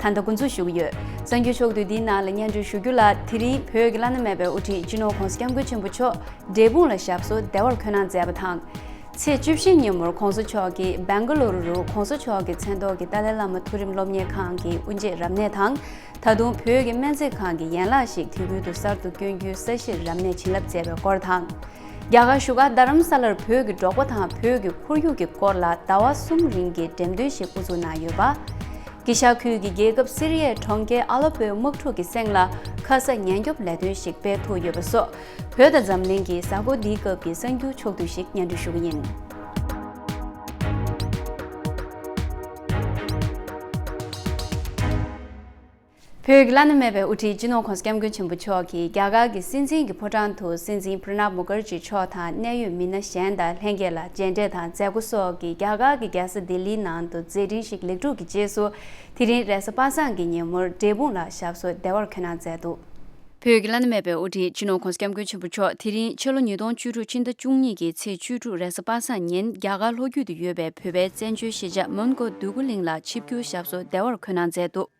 ད་ལྟ་འགོ་འཛུགས་ཞུ་གི་ཡོད། གསར་འགྱུར་ཕྱོགས་བསྡུས་འདིའི་ནང་ལ་སྙན་སྒྲོན་ཞུ་རྒྱུ་ལ་དེ་རིང་བོད་ཀྱི་བླ་ན་མེད་པའི་དབུ་ཁྲིད་སྤྱི་ནོར ྋགོང་ས ྋསྐྱབས་མགོན་ཆེན་པོ་མཆོག་འབྲས་སྤུངས་ལ་ཞབས་སོར་བདེ་བར་འཁོད་གནང་མཛད་པ་དང། ཚེས་བཅུ་བཞི་ཉིན་མོར ྋགོང་ས་མཆོག་གིས་སྦེང་ག་ལོ་རུ་རུ ྋགོང་ས་མཆོག་གི་མཚན་ཐོག་གི་ཏཱ་ལའི་བླ་མ་མཐོ་རིམ་སློབ་གཉེར་ཁང་གི་དབུ་འབྱེད་རབ་གནས་དང། ད་དུང་བོད་ཀྱི་སྨན་རྩིས་ཁང་གི་ཡན་ལག་ཞིག་དུས་ཀུན་ཏུ་གསར་དུ་བསྐྱོན་རྒྱུའི་ས་གཞིར་རབ་གནས་བྱིན་རླབས་མཛད་པའི་སྐོར་དང། རྒྱ་གར་བཞུགས་སྒར་རྡ་རམ་ས་ལར་བོད་ཀྱི་འབྲོག་པ་དང་བོད་ཀྱི་ཁོར་ཡུག་གི་སྐོར་ལ་ཟླ་བ་གསུམ་རིང་གི་འགྲེམས་སྟོན་ཞིག་དབུ་འཛུགས་གནང་ཡོད་པ། གི་ཤ་ཁུལ་གྱི་རྒྱལ་ཁབ་སི་རི་ཡའི་གྲོང་ཁྱེར་ཨ་ལ་པོའི་དམག་འཁྲུག་གི་གསེང་ལ་ཁ་ས་ཉེན་སྐྱོབ་ལས་དོན་ཞིག་སྤེལ་ཐུབ་ཡོད་པ་སོགས་བོད་དང་འཛམ་གླིང་གི་གཟའ་འཁོར་འདིའི་སྐབས་ཀྱི་གསར་འགྱུར་ཕྱོགས་བསྡུས་ཤིག་སྙན་སྒྲོན་ཞུ་གི་ཡིན། བོད་ཀྱི་བླ་ན་མེད་པའི་དབུ་ཁྲིད་སྤྱི་ནོར་ཁོང་སྐྱབས་མགོན་ཆེན་པོ་མཆོག་གིས་རྒྱ་གར་གྱི་སྲིད་འཛིན་གྱི་ཕོ་བྲང་དུ་སྲིད་འཛིན Pranab Mukherjee མཆོག་དང་གནད་ཡོད་མི་སྣ་གཞན་དང་ལྷན་རྒྱས་ལ་མཇལ་འཕྲད་དང་མཛད་སྒོ་སོགས་ཀྱིས་རྒྱ་གར་གྱི་རྒྱལ་ས་ལྡི་ལིའི་ནང་དུ་མཛད་འཕྲིན་ཞིག་ལེགས་གྲུབ་ཀྱི་རྗེས་སུ། དེ་རིང་རེས་གཟའ་པ་སངས་ཀྱི་ཉིན་མོར་འབྲས་སྤུངས་ལ་ཞབས་སོར་བདེ་བར་ཁོད་གནང་མཛད་འདུག། བོད་ཀྱི་བླ་ན་མེད་པའི་དབུ་ཁྲིད་སྤྱི་ནོར་ཁོང་སྐྱབས་མགོན་ཆེན་པོ་མཆོག་དེ་རིང་ཕྱི་ལོ་ཉིས་སྟོང་བཅུ་དྲུག་ཕྱི་ཟླ་བཅུ་གཉིས་ཀྱི་ཚེས་བཅུ་དྲུག་རེས་གཟའ་པ་སངས་ཉིན་རྒྱ་གར་ལྷོ་རྒྱུད་དུ་ཡོད་པའི་བོད་པའི་བཙན་བྱོལ་གཞིས་ཆགས་མོན་གྷོ་འདུས་སྐུ་གླིང་ལ་ཆིབས་བསྒྱུར་ཞབས་སོར་བདེ་བར་ཁོད་གནང་མཛད་འདུག།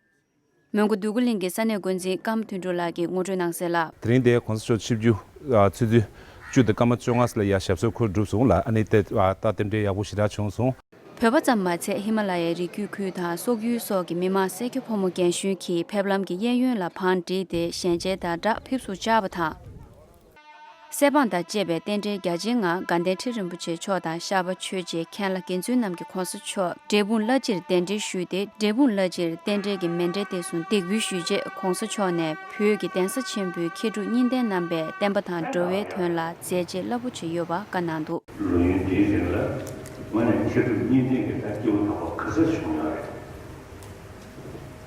མོན་གྷོ་བདུད་རྒུ་གླིང་གི་ས་གནས་འགོ་འཛིན་སྐམ་མཐུན་འབྲུག་ལགས་ཀྱིས་ངོ་སྤྲོད་གནང་གསལ། དེ་རིང་དེའི་གོང་ས་མཆོག་ཆིབས་བསྒྱུར་ཚུལ་བརྒྱུད། བཅུ་དང་སྐར་མ་བཅོ་ལྔ་ལ་ཡར་ཞབས་སོར་འཁོད་གྲུབ་སོང་ལ་ཨ་ནེ་ཏེ་ཏཱ་རྟེན་འབྲེལ་ཡག་པོ་ཞེ་དྲག་བྱུང་སོང། བོད་པ་ཙམ་མ་ཚད་ཧི་མ་ལ་ཡའི་རི་རྒྱུད་ཁུལ་དང་སོག་ཡུལ་སོགས་ཀྱི་མི་མང་སེར་སྐྱ་ཕོ་མོ་རྒན་གཞོན་གྱིས་ཕེབས་ལམ་གྱི་གཡས་གཡོན་ལ་བང་བསྒྲིགས་ཏེ་ཞལ་མཇལ་དང་སྦྲགས་ཕེབས་བསུ་བཅར་བ་དང། སའི་འབངས་དང་བཅས་པའི་རྟེན་འབྲེལ་རྒྱ་ཆེན་ངང་དགའ་ལྡན་ཁྲི་རིན་པོ་ཆེ་མཆོག་དང་ཤར་པ་ཆོས་རྗེའི་མཁན་བླ་དགེ་འདུན་རྣམས་ཀྱི་གོང་ས་མཆོག་འབྲས་སྤུངས་བླ་སྤྱིར་གདན་འདྲེན་ཞུས་ཏེ་འབྲས་སྤུངས་བླ་སྤྱིར་རྟེན་འབྲེལ་གྱི་མེ་འབྲས་གཏད་སོང་འདེགས་འབུལ་ཞུས་རྗེས་གོང་ས་མཆོག་ནས་བོད་ཀྱི་གདན་ས་ཆེན་པོའི་མཁས་གྲུབ་གཉིས་ལྡན་རྣམ་པས་བསྟན་པ་དང་འགྲོ་བའི་དོན་ལ་མཛད་རྗེས་རླབས་པོ་ཆེ་ཡོད་པ་བཀའ་གནང་འདུག། ལོ་ཡུན་འདིའི་རིང་ལ་ངོས་ནས་མཁས་གྲུབ་གཉིས་ལྡན་གྱི་ལྟ་སྐྱེ་བོ་དག་པ་ག་ཚད་བྱུང་ཡོད་རེད།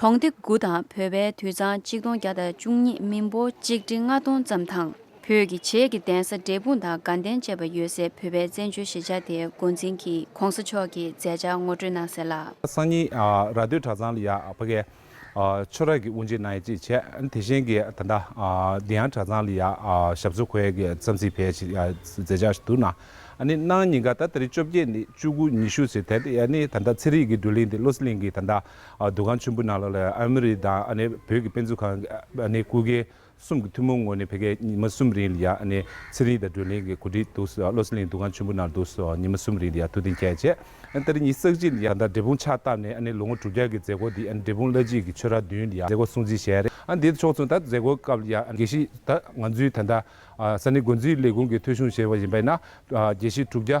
གྲོང་སྡེ་དགུ་དང་བོད་པའི་དུད་ཚང་གཅིག་སྟོང་བརྒྱ་དང་བཅུ་གཉིས་མི་འབོར་གཅིག་ཁྲི་ལྔ་སྟོང་ཙམ་དང་བོད་ཀྱི་བྱེས་ཀྱི་གདན་ས་འབྲས་སྤུངས་དང་དགའ་ལྡན་བཅས་པ་ཡོད་སའི་བོད་པའི་བཙན་བྱོལ་གཞིས་ཆགས་དེའི་མགོ་འཛིན་གྱིས་གོང་ས་མཆོག་གི་མཛད་འཆར་ངོ་སྤྲོད་གནང་ཟེར་ལ། སང་ཉིན་ར་སྟོད་གྲྭ་ཚང་ལ་ཡ་ཕ་གའི་ཆོས་རྭ་གི་དབུ་འབྱེད་གནང་ཡ་ཅེས་བྱས། དེ་བཞིན་གྱི་ད་ལྟ་འདི་ཡང་གྲྭ་ཚང་ལ་ཡ་ཞབས་ཚོ་ཁོའི་གི་རྩམ་ཟིག་བས་ཞིག་མཛད་འཆར་ཞིག་འདུག་ན་ནི་གནང་ཉིན་ག་ད་ད་རེ་བཅོ་བརྒྱད་ནི་བཅུ་དགུ་ཉི་ཤུ་ཟེར་དེ་ནི་ད་ད་ཚེ་རིག་གི་སྒྲོལ་གླིང་དེ་བློ་གསལ་གླིང་གི་ད་ད་འདུ་ཁང་ཆེན་པོའི་ནང་ལ་ཨ་མི་རི་དང་བོད་ཀྱི་དཔེ་མཛོད་ཁང་སྐུ་སྒེར་གསུམ་གྱི་ཐུན་མོང་ངོས་ནས་ཕེབས་མཁན་ཉི་མ་གསུམ་རིང་ལ་ཡང་ཚེ་རིང་དང་སྒྲོན་གླིང་གི་གོ་སྒྲིག་འདུག་བློ་སེང་གླིང་འདུ་ཁང་ཆེན་པོའི་ནང་དུ་ཉི་མ་གསུམ་རིང་ལ་ཡང་ཐུགས་གཏན་འཁེལ་བྱས། ད་རེས་ཉིན་གསར་གཅིག་ལ་ཡང་དག་འབྲས་སྤུངས་ཕྱག་བཏབ་ནས་ལོ་ངོ་དྲུག་བརྒྱ་གྱི་མཛད་སྒོ་འདི་འབྲས་སྤུངས་བླ་སྤྱི་གི་ཆོས་ར་བདུན་ལ་ཡང་མཛད་སྒོ་སྲུང་བརྩི་བྱས། དེ་ཕྱོགས་མཚུངས་ད་ལྟ་མཛད་སྒོའི་སྐབས་ལ་ཡང་དགེ་བཤེས་ད་ང་ཚོའི་ད་ལྟ་ས་གནས་འགོ་འཛིན་ལས་ཁུངས་ཀྱི་ཐོས་གཞུང་ཞེས་པ་ཡིན་པས་ན་དགེ་བཤེས་དྲུག་བརྒྱ་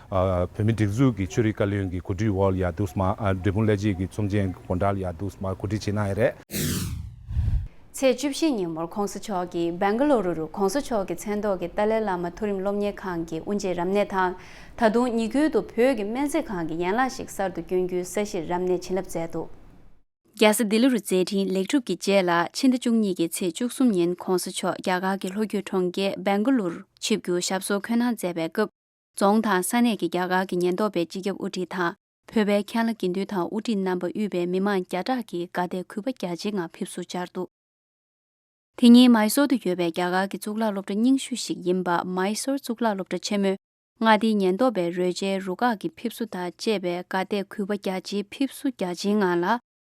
བོད་མི་སྒྲིག་འཛུགས་ཀྱི་ཆོས་རིག་བཀའ་བློན་གྱི་གོ་སྒྲིག་འོག་ཡར་དུས་མར་འབྲས་སྤུངས་ཀླད་རྗེས་ཀྱི་ཚོམས་ཆེན་དགོན་གྲྭ་ལ་ཡར་དུས་མར་གོ་སྒྲིག་བྱེད་གནང་ཡས་རེད། ཚེས་བཅུ་བཞི་ཉིན་མོར་ཁོང་ས་མཆོག་གིས་སྦེང་ག་ལོ་རུ་རུ་ཁོང་ས་མཆོག་གི་མཚན་ཐོག་གི་ཏཱ་ལའི་བླ་མ་མཐོ་རིམ་སློབ་གཉེར་ཁང་གི་དབུ་འབྱེད་རབ་གནས་དང་ད་དུང་ཉི་ཁུལ་དུ་བོད་ཀྱི་སྨན་རྩིས་ཁང་གི་ཡན་ལག་ཞིག་གསར་དུ་བསྐྱོན་རྒྱུའི་ས་གཞིར་རབ་གནས་བྱིན་རླབས་མཛད་འདུག། རྒྱལ་ས་ལྡི་ལི་རུ་མཛད་འཕྲིན་ལེགས་གྲུབ་ཀྱི་རྗེས་ལ་ཕྱི་ཟླ་བཅུ་གཉིས་ཀྱི་ཚེས་བཅུ་གསུམ་ཉིན་ཁོང་ས་མཆོག་རྒྱ་གར་གྱི་ལྷོ་རྒྱུད་གྲོང་ཁྱེར་སྦེང་ག་ལོ་རུ་ཆིབས་བསྒྱུར་ཞབས་སོར་འཁོད་གནང་མཛད་པའི་སྐབས། རྫོང་དང་ས་གནས་ཀྱི་རྒྱ་གར་གྱི་ཉེན་རྟོག་པའི་སྤྱི་ཁྱབ་དབུ་ཁྲིད་དང་བོད་པའི་མཁན་བླ་དགེ་འདུན་དང་དབུ་ཁྲིད་རྣམ་པ་དབུས་པའི་མི་མང་བརྒྱ་ཕྲག་གིས་དགའ་དད་གུས་པ་རྒྱ་ཆེའི་ངང་ཕེབས་བསུ་བཅར་འདུག་དེ་ཉིན་མཱི་སོར་དུ་ཡོད་པའི་རྒྱ་གར་གྱི་གཙུག་ལག་སློབ་གྲྭ་རྙིང་ཤོས་ཤིག་ཡིན་པ་མཱི་སོར་གཙུག་ལག་སློབ་གྲྭ་ཆེན་མོའི་མངའ་སྡེའི་ཉེན་རྟོག་པའི་རོལ་ཆའི་རུ་ཁག་གི་ཕེབས་བསུ་དང་བཅས་པའི་དགའ་དད་གུས་པ་རྒྱ་ཆེའི་ཕེབས་བསུ་རྒྱ་ཆེའི་ངང་ལ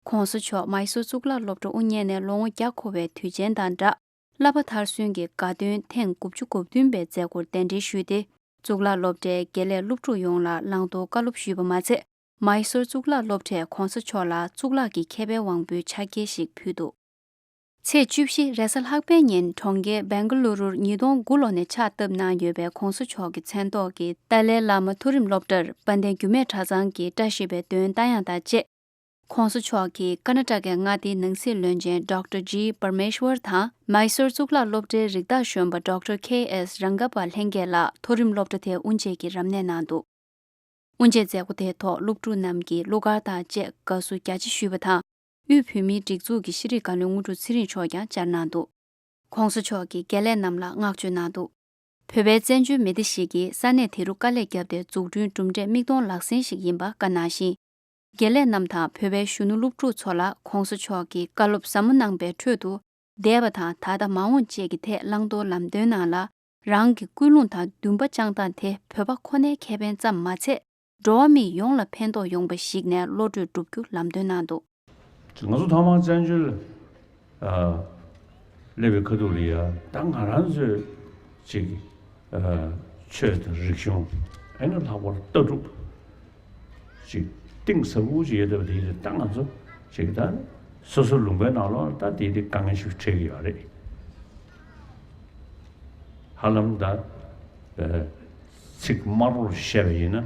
ྋགོང་ས་མཆོག་མཱི་སོར་གཙུག་ལག་སློབ་གྲྭ་དབུ་བརྙེས་ནས་ལོ་ངོ་བརྒྱ་འཁོར་བའི་དུས་ཆེན་དང་སྦྲགས། བསླབ་པ་མཐར་སོན་གྱི་དགའ་སྟོན་ཐེངས་དགུ་བཅུ་གོ་བདུན་པའི་མཛད་སྒོར་གདན་འདྲེན་ཞུས་ཏེ་གཙུག་ལག་སློབ་གྲྭའི་དགེ་ལས་སློབ་ཕྲུག་ཡོངས་ལ་བླང་དོར་བཀའ་སློབ་ཞུས་པ་མ་ཚད་མཱི་སོར་གཙུག་ལག་སློབ་གྲྭས་གོང་ས་མཆོག་ལ་གཙུག་ལག་གི་མཁས་པའི་དབང་པོའི་ཕྱག་འཁྱེར་ཞིག་ཕུལ་འདུག། ཚེས་བཅུ་བཞི་རེས་གཟའ་ལྷག་པའི་ཉིན་གྲོང་ཁྱེར་བན་གྷ་ལུ་རུར་ཉིས་སྟོང་དགུ་ལོ་ནས་ཕྱག་བཏབ་གནང་ཡོད་པའི་གོང་ས་མཆོག་གི་མཚན་ཐོག་གི་ཏཱ་ལའི་བླ་མ་མཐོ་རིམ་སློབ་གྲྭར་དཔལ་ལྡན་འགྱུར་མེད་གྲྭ་ཚང་གི་བཀྲ་ཤིས་པའི་འདོན་རྟ་དབྱངས་དང་བཅས། ཁོང་སོ་མཆོག་གིས་ཀར་ནཱ་ཀྲ་ཀའི་མངའ་སྡེའི་ནང་སྲིད་བློན་ཆེན Doctor G Parmeshwar དང་མཱི་སོར་གཙུག་ལག་སློབ་གྲྭའི་རིགས་བདག་གཞོན་པ Doctor KS Rangappa ལྷན་རྒྱས་ལ་མཐོ་རིམ་སློབ་གྲྭ་དེ་དབུ་འབྱེད་ཀྱི་རབ་གནས་གནང་འདུག་དབུ་འབྱེད་མཛད་སྒོ་དེའི་ཐོག་སློབ་ཕྲུག་རྣམས་ཀྱིས་གླུ་གར་དང་བཅས་དགའ་བསུ་རྒྱ་ཆེ་ཞུས་པ་དང་དབུས་བོད་མིའི་སྒྲིག་འཛུགས་ཀྱི་ཤེས་རིག་བཀའ་བློན་དངོས་གྲུབ་ཚེ་རིང་མཆོག་ཀྱང་བཅར་གནང་འདུག་ཁོང་སོ་མཆོག་གིས་དགེ་ལས་རྣམས་ལ་བསྔགས་བརྗོད་གནང་འདུག་བོད་པའི་བཙན་བྱོལ་མི་སྡེ་ཞིག་གིས་ས་གནས་དེ་རུ་དཀའ་ལས་བརྒྱབ་སྟེ་འཛུགས་སྐྲུན་གྲུབ་འབྲས་མིག་མཐོང་ལག་ཟིན་ཞིག་ཡིན་པ་བཀའ་གནང་ཞིང། དགེ་ལས་རྣམས་དང་བོད་པའི་གཞོན་ནུ་སློབ་ཕྲུག་ཚོ་ལ ྋགོང་ས་མཆོག་གིས་བཀའ་སློབ་ཟབ་མོ་གནང་པའི་ཁྲོད་དུ། འདས་པ་དང་ད་ལྟ་མ་འོངས་བཅས་ཀྱི་ཐད་བླང་དོར་ལམ་སྟོན་གནང་ལ། རང་གི་ཀུན་སློང་དང་འདུན་པ་བཅངས་སྟངས་དེ་བོད་པ་ཁོ་ནའི་ཁེ་ཕན་ཙམ་མ་ཚད་འགྲོ་བ་མི་ཡོངས་ལ་ཕན་ཐོགས་ཡོང་པ་ཞིག་ནས་བློ་གྲོས་བསྒྲུབ་རྒྱུ་ལམ་སྟོན་གནང་འདུག། ང་ཚོ་ཐང་བ་བཙན་བྱོལ། ཀླད་པའི་ཁ་ཐུག་ལ་ཡང་ད་ང་རང་ཚོའི་ཅིག་ཆོས་དང་རིག་གཞུང་ཨེ་ན་ལྷག་པར་ལྟ་གྲུབ་ཅིག་གཏིང་ཟབ་མོ་ཅིག་ཡོད་ཐབས་དེ་ཡིན་ད་ང་ཚོ་ཅིག་ད་སོ་སོ་ལུང་པའི་ནང་ལོགས་ད་དེ་དེ་དཀའ་ངལ་ཞིག་འཕྲད་ཀྱི་ཡོད་རེད། ཧ་ལམ་ད་ཚིག་དམར་བོར་བཤད་པ་ཡིན་ན།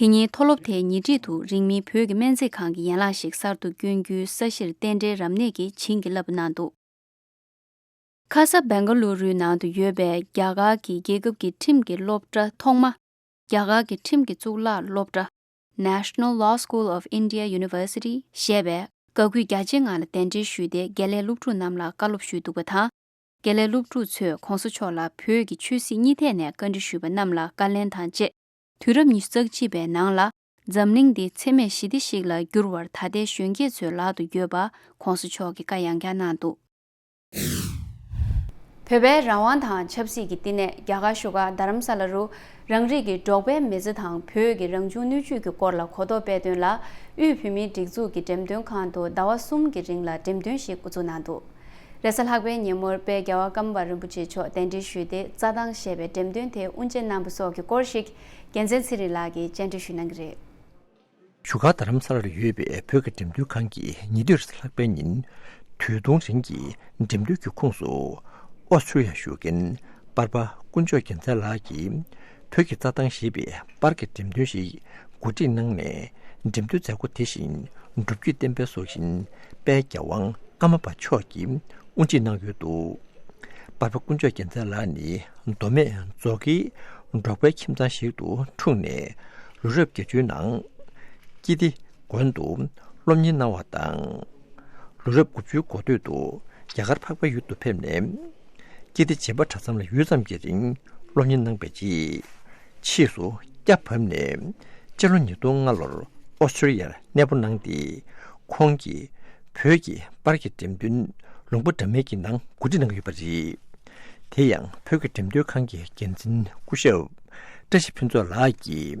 དེ་ཉིན་མཐོ་སློབ་དེའི་ཉེ་འཁྲིས་དུ་རིང་མིན་བོད་ཀྱི་སྨན་རྩིས་ཁང་གི་ཡན་ལག་ཞིག་གསར་དུ་བསྐྱོན་རྒྱུའི་ས་གཞིར་རྟེན་འབྲེལ་རབ་གནས་ཀྱིས་བྱིན་གྱིས་བརླབས་པ་གནང་འདུག། ཁ་ས་བན་ག་ལུ་རུའི་ནང་དུ་ཡོད་པའི་རྒྱ་གར་གྱི་རྒྱལ་ཁབ་ཀྱི་ཁྲིམས་ཀྱི་སློབ་གྲྭ་ཐོག་མ། རྒྱ་གར་གྱི་ཁྲིམས་ཀྱི་གཙུག་ལག་སློབ་གྲྭ། National Law School of India University། ཞེས་པས་དགའ་གུས་རྒྱ་ཆེ་ངང་ལ་གདན་འདྲེན་ཞུས་ཏེ་དགེ་ལས་སློབ་ཕྲུག་རྣམས་ལ་བཀའ་སློབ་ཞུས་འདུག་པ་དང། དགེ་ལས་སློབ་ཕྲུག་ཚོས་གོང་ས་མཆོག་ལ་བོད་ཀྱི་ཆོས་སྲིད་གཉིས་ཐད་ནས་བཀའ་འདྲི་ཞུས་པ་རྣམས་ལ་བཀའ་ལན་དང་བཅས་དུས་རབས་ཉི་ཤུ་རྩ་གཅིག་པའི་ནང་ལ་འཛམ་གླིང་འདི་འཚེ་མེད་ཞི་བདེ་ཞིག་ལ་འགྱུར་བར་ད་ལྟའི་གཞོན་སྐྱེས་ཚོའི་ལག་ཏུ་ཡོད་པ ྋགོང་ས་མཆོག་གིས་བཀའ་ཡང་བསྐྱར་གནང་འདུག། བོད་པའི་རང་དབང་དང་ཆབ་སྲིད་ཀྱི་བསྟི་གནས་རྒྱ་གར་བཞུགས་སྒར་རྡ་རམ་ས་ལ་རུ། རང་རིགས་ཀྱི་འབྲོག་པའི་མི་ཚེ་དང་བོད་ཀྱི་རང་བྱུང་སྣོད་བཅུད་ཀྱི་སྐོར་ལ་གོ་རྟོགས་སྤེལ་དོན་ལ་དབུས་བོད་མིའི་སྒྲིག་འཛུགས་ཀྱི་འགྲེམས་སྟོན་ཁང་དུ་ཟླ་བ་གསུམ་གྱི་རིང་ལ་འགྲེམས་སྟོན་ཞིག་འགོ་འཛུགས་གནང་འདུག། རེས་གཟའ་ལྷག་པའི་ཉིན་མོར་དཔལ་རྒྱལ་བ་ཀམ་པ་རིན་པོ་ཆེ་མཆོག་གདན་འདྲེན་ཞུས་ཏེ་རྩྭ་ཐང་ཞེས་པའི་འགྲེམས་སྟོན་དེའི་དབུ་འབྱེད་གནང་བ་སོགས་ཀྱི་སྐོར་ཞིག་རྒྱལ་མཚན་ཚེ་རིང་ལགས་ཀྱིས་བཅར་འདྲི་ཞུས་གནང་གི་རེད། བཞུགས་སྒར་རྡ་རམ་ས་ལར་ཡོད་པའི་བོད་ཀྱི་འགྲེམས་སྟོན་ཁང་གིས་ཉིན་དེ་རེས་གཟའ་ལྷག་པའི་ཉིན་དུས་སྟོང་རིང་གི་འགྲེམས་སྟོན་གྱི་ཁུངས་སུ་ཨོ་ཆུ་ཡཱ་བཞུགས་མཁན་དཔར་པ་དཀོན་མཆོག་རྒྱལ་མཚན་ལགས་ཀྱིས་བོད་ཀྱི་རྩྭ་ཐང་ཞེས་པའི་པར་གྱི་འགྲེམས་སྟོན་ཞིག་གོ་སྒྲིག་གནང་ནས་འགྲེམས་སྟོན་མཛད་སྒོ་དེ་བཞིན་སྒྲུབ་བརྒྱུད་བསྟན་པའི་སྲོག་ཤིང་དཔལ་རྒྱལ་དབང་ཨ་མ་པ་མཆོག་གིས་དབུ་འབྱེད་གནང་ཡོད་འདུག་པར་པ་དཀོན་མཆོག་རྒྱལ་མཚན་ལགས་ནི་མདོ་སྨད་རྫོགས་ཀྱི་འབྲོག་པའི་ཁྱིམ་ཚང་ཞིག་ཏུ་འཁྲུངས་ནས་ལོ་རབས་བརྒྱད་ཅུའི་ནང་སྐྱིད་བདེ་དགོན་དུ་སློབ་གཉེར་གནང་བ་དང། ལོ་རབས་དགུ་བཅུའི་འགོ་སྟོད་དུ་རྒྱ་གར་འཕགས་པའི་ཡུལ་དུ་ཕེབས་ནས། སྐྱེས་ཏེ་བྱིས་པ་གྲྭ་ཚང་ལ་ཡུད་ཙམ་གྱི་རིང་སློབ་གཉེར་གནང་བའི་རྗེས། ཕྱིས་སུ་སྐྱ་བབས་ནས་སྤྱི་ལོ་ཉིས་སྟོང་ལྔ་ལོར་ཨོ་སྟྲེ་ལི་ཡར་གནས་སྤོ་གནང་སྟེ། ཁོང་གིས་བོད་ཀྱི་པར་གྱི་འགྲེམས་སྟོན་ལུང་པ་འདྲ་མིན་གྱི་ནང་གོ་སྒྲིག་གནང་ཡོད་པ་རེད། དེ་ཡང་བོད་ཀྱི་འགྲེམས་སྟོན་ཁང་གི་འགན་འཛིན་སྐུ་ཞབས་བཀྲ་ཤིས་ཕུན་ཚོགས་ལགས་ཀྱིས།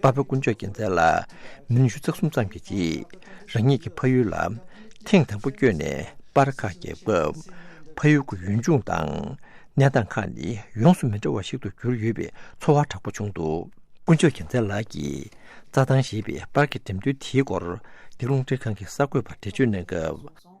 དཔའ་བོ་དཀོན་མཆོག་རྒྱལ་མཚན་ལ་མི་ལོ་ཉི་ཤུ་རྩ་གསུམ་ཙམ་གྱི་རྗེས་རང་ཉིད་ཀྱི་ཕ་ཡུལ་ལ་ཐེངས་དང་པོ་བསྐྱོད་ནས་པར་ཁ་བརྒྱབ་སྐབས། ཕ་ཡུལ་གྱི་ཡུལ་ལྗོངས་དང་གནས་སྟངས་ཁག་ནི་ཡོངས་སུ་མི་འདྲ་བ་ཞིག་ཏུ་གྱུར་ཡོད་པའི་ཚོར་བ་དྲག་པོ་བྱུང་འདུག། དཀོན་མཆོག་རྒྱལ་མཚན་ལགས་ཀྱིས་རྩྭ་ཐང་ཞེས་པའི་པར་གྱི་འགྲེམས་སྟོན་དེའི་སྐོར་འདི་རླུང་འཕྲིན་ཁང་གི་གསར་འགོད་པར་འགྲེལ་བརྗོད་གནང་སྐབས།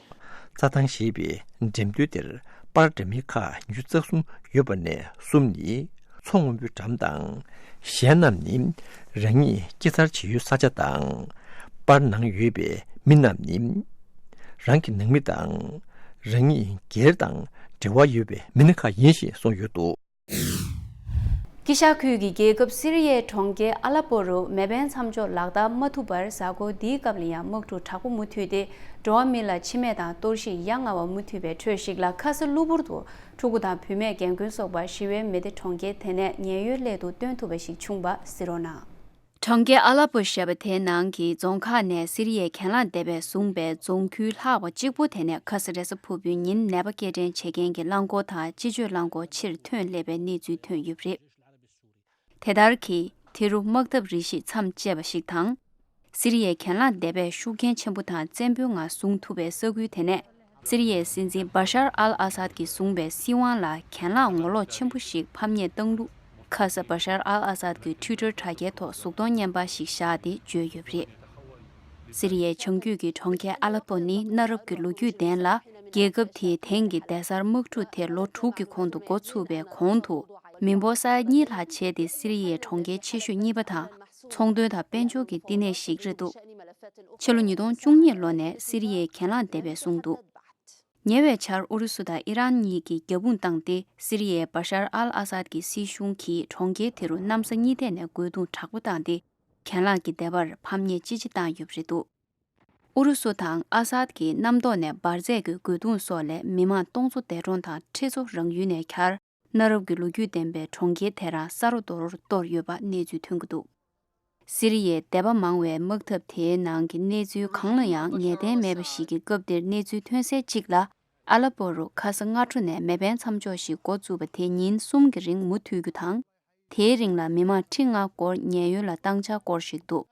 རྩྭ་ཐང་ཞེས་པའི་འགྲེམས་སྟོན་དེར་པར་འདྲ་མིན་ཁག་ཉུལ་རྩ་གསུམ་ཡོད་པ་ནས་གསུམ་ནི་མཚོ་སྔོན་པོའི་འགྲམ་དང། གཞན་རྣམས་ནི་རང་ཉིད་སྐྱེ་འཚར་བྱེད་ཡུལ་ས་ཆ་དང། པར་ནང་ཡོད་པའི་མི་རྣམས་ནི་རང་གི་ནང་མི་དང། རང་ཉིད་སྒེར་དང་འབྲེལ་བ་ཡོད་པའི་མི་སྣ་ཁག་ཡིན་ཞེས་གསུངས་ཡོད་འདུག། ཀི་ཤ་ཁུལ་གྱི་རྒྱལ་ཁབ་སི་རི་ཡའི་གྲོང་ཁྱེར་ཨ་ལ་པོ་རུ་མེ་འཕེན་མཚམས་འཇོག་ལག་བསྟར་མ་ཐུབ་པར་གཟའ་འཁོར་འདིའི་སྐབས་ལ་ཡང་དམག་འཁྲུག་དྲག་པོ་མུ་མཐུད་དེ་འགྲོ་བ་མི་ལ་འཆི་རྨས་དང་གཏོར་བཤིག་ཡ་ང་བ་མུ་མཐུད་པའི་ཁྲོད་ཞིག་ལ་ཁ་ས་གློ་བུར་དུ་ཕྲུ་གུ་དང་བུད་མེད་རྒན་རྒོན་སོགས་པར་ཞི་བའི་མེ་དེ་གྲོང་ཁྱེར་དེ་ནས་ཉེན་གཡོལ་སླད་དུ་སྟོན་ཐུབ་པ་ཞིག་བྱུང་བ་སི་རོ་ན། གྲོང་ཁྱེར་ཨ་ལ་པོ་ཞེས་པ་དེའི་ནང་གི་རྫོང་ཁག་ནས་སི་རི་ཡའི་གྱེན་ལངས་སྡེ་བས་བཟུང་པའི་རྫོང་ཁུལ་ལྷག་པ་གཅིག་པོ་དེ་ནས་ཁ་སི་རེ་ས་ཕུར་བུའི་ཉིན་ནད་པ་སྐྱེལ་འདྲེན་བྱེད་མཁན་གྱི་རླངས་འཁོར་དང་སྤྱི་སྤྱོད་རླངས་འཁོར་ཕྱིར་ཐོན་སླེབས་པའི་གནས་ཚུལ་ཐོན་ཡོད་པ་རེད། དེ་ལྟར་གྱིས་དེ་རུ་དམག་འཐབ་རིགས་ཤིག་མཚམས་བཅད་པ་ཞིག་དང། སི་རི་ཡའི་གྱེན་ལངས་སྡེ་བས་ཤུགས་རྐྱེན་ཆེན་པོ་དང་བཙན་པོའི་ངང་བཟུང་ཐུབ་པའི་ས་ཁུལ་དེ་ནས། སི་རི་ཡའི་སྲིད་འཛིན་བཱ་ཤར་ཨལ་ཨ་སཱད་ཀྱིས་བཟུང་བའི་སྲིད་དབང་ལ་གྱེན་ལངས་ངོ་ལོག་ཆེན་པོ་ཞིག་ཕམ་ཉེས་བཏང་ལུགས་ཁ་གསབ་བཱ་ཤར་ཨལ་ཨ་སཱད་ཀྱི Twitter དྲ་རྒྱའི་ཐོག་གཟུགས་མཐོང་བརྙན་པ་ཞིག་བཞག་སྟེ་བརྗོད་ཡོད་པ་རེད། སི་རི་ཡའི་བྱང་རྒྱུད་ཀྱི་གྲོང་ཁྱེར་ཨ་ལ་པོ་ནི་གནའ་རབས་ཀྱི་ལོ་རྒྱུས་ལྡན་ལ་རྒྱལ་ཁབ་དེའི་དེང་གི་གདན་སར་དམག་འཁྲུག་དེ་ལོ་དྲུག་གི་གོང་དུ་འགོ་ཚུགས་པའི་གོང་དུ་མི་འབོར་ས་ཡ་གཉིས་ལྷག་བྱས་ཏེ་སི་རི་ཡའི་གྲོང་ཁྱེར་ཆེ་ཤོས་གཉིས་པ་དང་ཚོང་དོན་དང་དཔལ་འབྱོར་གྱི་བསྟི་གནས་ཤིག་རེད་འདུག་ཕྱི་ལོ་ཉིས་སྟོང་བཅུ་གཉིས་ལོ་ནས་སི་རི་ཡའི་གྱེན་ལངས་བདེ་བས་བཟུང་འདུག་ཉེ་བའི་ཆར་ཨུ་རུ་སུ་དང་ཨི་རན་གཉིས་ཀྱིས་རྒྱབ་དཔུང་བཏང་སྟེ་སི་རི་ཡའི་བཱ་ཤར་ཨལ་ཨ་སཱད་ཀྱི་སྲིད་གཞུང་གིས་གྲོང་ཁྱེར་དེ་རུ་གནམ་ས་གཉིས་ཐད་ནས་རྒོལ་རྡུང་དྲག་པོ་བཏང་སྟེ་གྱེན་ལངས་ཀྱི་བདེ་བར་ཕམ་ཉེས་ཅི་ཆེ་བཏང་ཡོད་པ་རེད་འདུག་ཨུ་རུ་སུ་དང་ཨ་སཱད་ཀྱིས་གནམ་ཐོག་ནས་འབར་རྫས་ཀྱི་རྒོལ་རྡུང་སོགས་ལས་མི་མང་སྟོང་ཚོ་འདས་གྲོངས་དང་ཁྲི་ཚོ་རང་ཡུལ་ནས་གྱར། གནའ་རབས་ཀྱི་ལོ་རྒྱུས་ལྡན་པའི་གྲོང་ཁྱེར་དེ་རང་ས་རཱོ་རྡོ་རོར་གཏོར་ཡོད་པ་གནས་ཚུལ་ཐོན་གྱི་འདུག་སི་རི་ཡའི་དད་པ་མང་བའི་དམག་འཐབ་དེའི་ནང་གི་གནས་ཚུལ་གང་ལ་ཡང་ངེས་གཏན་མེད་པ་ཞིག་གི་སྐབས་དེར་གནས་ཚུལ་ཐོན་སའི་གཅིག་ལ་ཨ་ལ་པོ་རུ་ཁ་ས་སྔ་དྲོ་ནས་མེ་འཕེན་མཚམས་འཇོག་ཞིག་འགོ་བཙུགས་པ་དེ་ཉིན་གསུམ་གྱི་རིང་མུ་མཐུད་རྒྱུ་དང། དེའི་རིང་ལ་མི་མང་ཁྲི་ལྔ་སྐོར་ཉེན་ཡོལ་ལ་བཏང་འཆར་སྐོར་ཞིག་འདུག་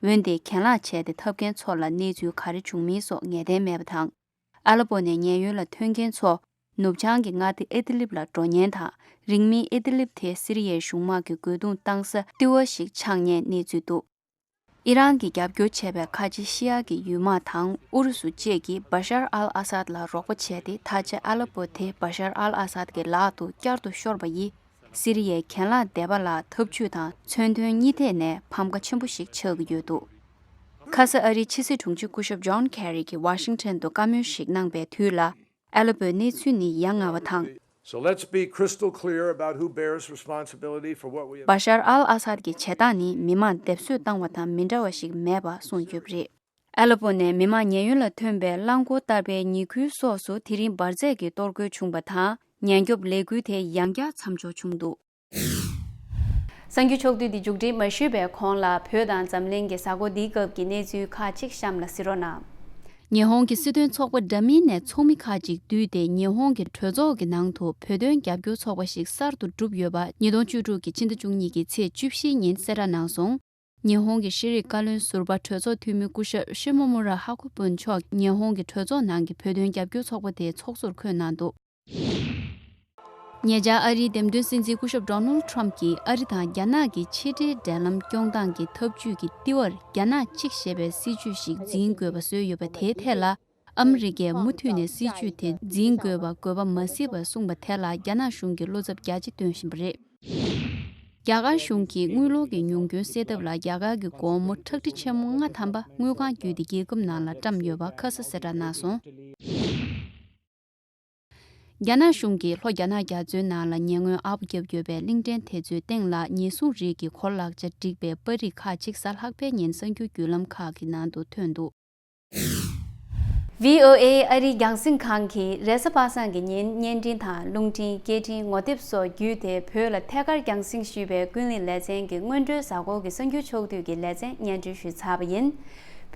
འོན་ཏེ་གྱེན་ལངས་བྱས་ཏེ་འཐབ་མཁན་ཚོ་ལ་གནས་ཚུལ་ག་རེ་བྱུང་མིན་སོགས་ངེས་གཏན་མེད་པ་དང། ཨ་ལ་པོ་ནས་ཉེན་གཡོལ་ལ་ཐོན་མཁན་ཚོ་ནུབ་བྱང་གི་མངའ་སྡེ་ཨེ་དི་ལིབ་ལ་འགྲོ་ཉེན་དང་རིང་མིན་ཨེ་དི་ལིབ་དེ་སི་རི་ཡའི་གཞུང་དམག་གི་རྒོལ་རྡུང་གཏང་ས་ལྟུ་བ་ཞིག་ཆགས་ཉེན་གནས་ཚུལ་འདུག་ཨི་རན་གྱིས་རྒྱབ་སྐྱོར་བྱས་པའི་ཁ་ཆེ་ཤི་ཡ་གི་ཡུལ་དམག་དང་ཨུ་རུ་སུ་བཅས་ཀྱིས་བཱ་ཤར་ཨལ་ཨ་སཱད་ལ་རོགས་པ་བྱས་ཏེ་ད་ཆ་ཨ་ལ་པོ་དེ་བཱ་ཤར་ཨལ་ཨ་སཱད་ཀྱི་ལག་ཏུ་བསྐྱར་དུ་ཤོར་བ་ཡིས། སི་རི་ཡའི་གྱེན་ལངས་སྡེ་པ་ལ་འཐབ་ཇུས་དང་མཚོན་དོན་གཉིས་ཐད་ནས་ཕམ་ཁ་ཆེན་པོ་ཞིག་ཆགས་ཀྱི་ཡོད་འདུག་ཁ་ས་ཨ་རིའི་ཕྱི་སྲིད་དྲུང་ཆེ་སྐུ་ཞབས John Kerry གྱིས Washington དུ་བཀའ་མོལ་ཞིག་གནང་པའི་དུས་ལ Aleppo ཡི་གནས་ཚུལ་ནི་ཡ་ང་བ་དང། Bashar al-Assad ཀྱི་བྱེད་སྟངས་ནི་མི་མང་སྡེབ་གསོད་བཏང་བ་དང་མི་འདྲ་བ་ཞིག་མེད་པ་གསུངས་ཡོད་པ་རེད། ཨ་ལ་པོ་ནས་མི་དམངས་ཉེན་གཡོལ་ལ་ཐོན་པའི་རླངས་འཁོར་བསྟར་པའི་ཉི་ཁུལ་སོགས་སུ་དེ་རིང་འབར་རྫས་ཀྱི་གཏོར་རྒོལ་བྱུང་བ་དང་ཉེན་སྐྱོབ་ལས་འགུལ་དེ་ཡང་བསྐྱར་མཚམས་འཇོག་བྱུང་འདུག། གསར་འགྱུར་ཕྱོགས་བསྡུས་འདི་མཇུག་སྒྲིལ་མ་ཞུས་པའི་གོང་ལ་བོད་དང་འཛམ་གླིང་གི་གཟའ་འཁོར་འདིའི་སྐབས་ཀྱི་གནས་ཚུལ་ཁག་ཅིག་གཤམ་ལ་གཟིགས་རོགས་གནང། ཉི་ཧོང་གི་སྲིད་དོན་ཚོགས་པ་འདྲ་མིན་ནས་ཚོགས་མི་ཁག་ཅིག་བསྡུས་ཏེ་ཉི་ཧོང་གི་གྲོས་ཚོགས་ཀྱི་ནང་དུ་བོད་དོན་རྒྱབ་སྐྱོར་ཚོགས་པ་ཞིག་གསར་དུ་གྲུབ་ཡོད་པ་ཉིས་སྟོང་བཅུ་དྲུག་གི་ཕྱི་ཟླ་བཅུ་གཉིས་ཀྱི་ཚེས་བཅུ་བཞིའི་ཉིན་གསལ་བསྒྲགས་གནང་སོང། ཉི་ཧོང་གི་ཤེས་རིག་བཀའ་བློན་ཟུར་པ་གྲོས་ཚོགས་འཐུས་མི་སྐུ་ཞབས་ཤི་མོ་མུ་ར་ཧ་ཁོ་པུན་མཆོག་ཉི་ཧོང་གི་གྲོས་ཚོགས་ནང་གི་བོད་དོན་རྒྱབ་སྐྱོར་ཚོགས་པ་དེའི་ཚོགས་གཙོར་འཁོད་གནང་འདུག། ཉེ་ཆར་ཨ་རིའི་འདེམས་ཐོན་སྲིད་འཛིན་སྐུ་ཞབས Donald Trump གྱིས་ཨ་རི་དང་རྒྱ་ནག་གི་ཕྱི་འབྲེལ་འབྲེལ་ལམ་སྐྱོང་སྟངས་ཀྱི་འཐབ་ཇུས་ཀྱི་ལྟེ་བར་རྒྱ་ནག་གཅིག་ཞེས་པའི་སྲིད་ཇུས་ཤིག་འཛིན་དགོས་པ་བཟོས་ཡོད་པ་དེའི་ཐད་ལ་ཨ་མི་རི་ཀས་མུ་མཐུད་ནས་སྲིད་བྱུས་དེ་འཛིན་དགོས་པ་དགོས་པ་མ་སྲིད་པར་གསུངས་པ་དེ་ལ་རྒྱ་ནག་གཞུང་གིས་བློ་འཚབ་རྒྱ་ཆེ་སྟོན་བཞིན་པ་རེད། རྒྱ་གར་གཞུང་གིས་དངུལ་ལོར་གྱི་ཉུང་སྐྱོན་སེལ་ཐབས་ལ་རྒྱ་གར་གྱི་སྒོར་མོ་ཁྲག་ཁྲིག་ཆེན་མོ་ལྔ་ཐམ་པ་དངུལ་ཁང་བརྒྱུད་དེ་རྒྱལ་ཁབ་ནང་ལ་བཀྲམས་ཡོད་པ་ཁ་ས་སེ་བྲག་གནང་སོང། རྒྱ་ནག་གཞུང་གིས་ལྷོ་རྒྱ་ནག་རྒྱ་མཚོའི་ནང་ལ་ཉེ་སྔོན་ཨ་བོ་བརྒྱབ་ཡོད་པའི་གླིང་ཕྲན་དེ་ཚོའི་སྟེང་ལ་ཉེས་བཟུང་རིགས་ཀྱི་གོ་ལག་ཆ་འགྲིག་པའི་པར་རིས་ཁག་ཅིག་གཟའ་ལྷག་པའི་ཉིན་གསར་འགྱུར་བརྒྱུད་ལམ་ཁག་གི་ནང་དུ་ཐོན་འདུག། VOA ཨ་རིའི་རྒྱང་སྲིང་ཁང་གིས་རེས་གཟའ་པ་སངས་ཀྱི་ཉིན་བརྙན་འཕྲིན་དང་རླུང་འཕྲིན་སྐད་འཕྲིན་ངོ་དེབ་སོགས་བརྒྱུད་དེ་བོད་ལ་ཐད་ཀར་རྒྱང་སྲིང་ཞུས་པའི་ཀུན་གླེང་ལེ་ཚན་གྱི་སྔོན་འགྲོའི་གཟའ་འཁོར་གྱི་གསར་འགྱུར་ཕྱོགས་བསྡུས་ཀྱི་ལེ་ཚན་སྙན་སྒྲོན་ཞུས་ཚར་བ་ཡིན།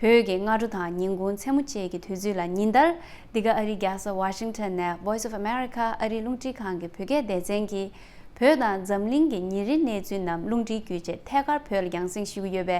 བོད་ཀྱི་སྔ་དྲོ་དང་ཉིན་གུང་མཚན་མོ་བཅས་ཀྱི་དུས་ཚོད་ལ་ཉིན་ལྟར་འདི་ག་ཨ་རིའི་རྒྱལ་ས Washington ནས Voice of America ཨ་རིའི་རླུང་འཕྲིན་ཁང་གི་བོད་སྐད་སྡེ་ཚན་གྱིས་བོད་དང་འཛམ་གླིང་གི་ཉིན་རེའི་གནས་ཚུལ་རྣམས་རླུང་འཕྲིན་བརྒྱུད་ཆེད་ཐད་ཀར་བོད་ལ་རྒྱང་སྲིང་ཞུ་གི་ཡོད་པའི